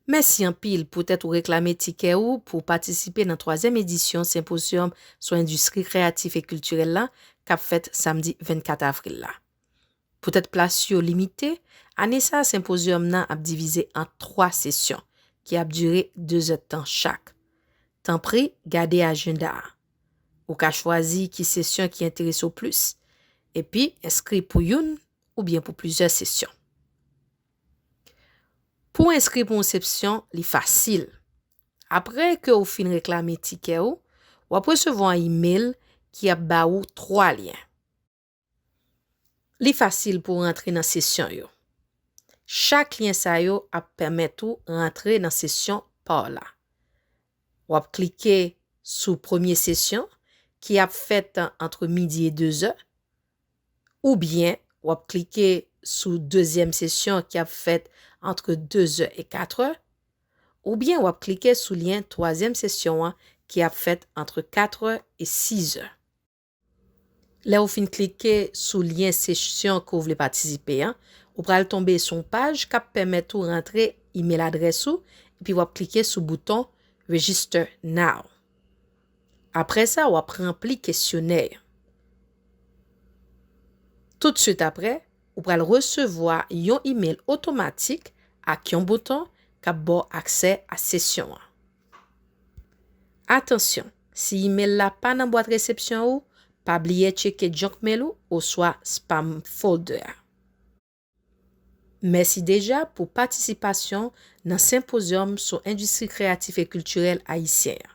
Mèsi anpil poutèt ou reklame tikè ou pou w patisipe nan twazyèm edisyon Senpozyòm sou Endistri Kreyatif e Kiltirèl la k ap fèt samdi 24 avril la. Poutèt plas yo limite, ane sa a senpozyòm nan ap divize an twa sesyon ki ap dire dezèdtan chak. Tanpri gade ajenda a. Ou ka chwazi ki sesyon ki enterese w plis, epi enskri pou youn oubyen pou plizyè sesyon. Pou w enskri pou yon sepsyon, li fasil. Apre ke ou fin reklame tikè ou, w ap resevwa yon imel ki ap ba ou 3 lyen. Li fasil pou w rantre nan sesyon yo. Chak lyen sa yo ap pèmèt ou rantre nan sesyon pa w la. W ap klike sou premye sesyon ki ap fèt antre midi e dezè, oubyen w ap klike sou dezyèm sesyon ki ap fèt antre 2 zè e 4 è, oubyen w ap klike sou lyen twazyèm sesyon an ki ap fèt antre 4 è e 6 è. Lè ou fin klike sou lyen sesyon ke w vle patisipe an, ou pral tonbe sou yon paj k ap pèmèt ou rantre imel adrès ou epi w ap klike sou bouton Register Now. Apre sa, w ap ranpli kesyonè an. Toutswit apre, ou pral resevwa yon imel otomatik ak yon bouton k ap ba w aksè a sesyon an. Atansyon, si imel la pa nan bwat resepsyon ou, pa bliye tcheke junk mail ou oswa spam folder a. Mèsi deja pou patisipasyon nan senpozyòm sou endistri kreyatif e kiltirèl ayisyen an.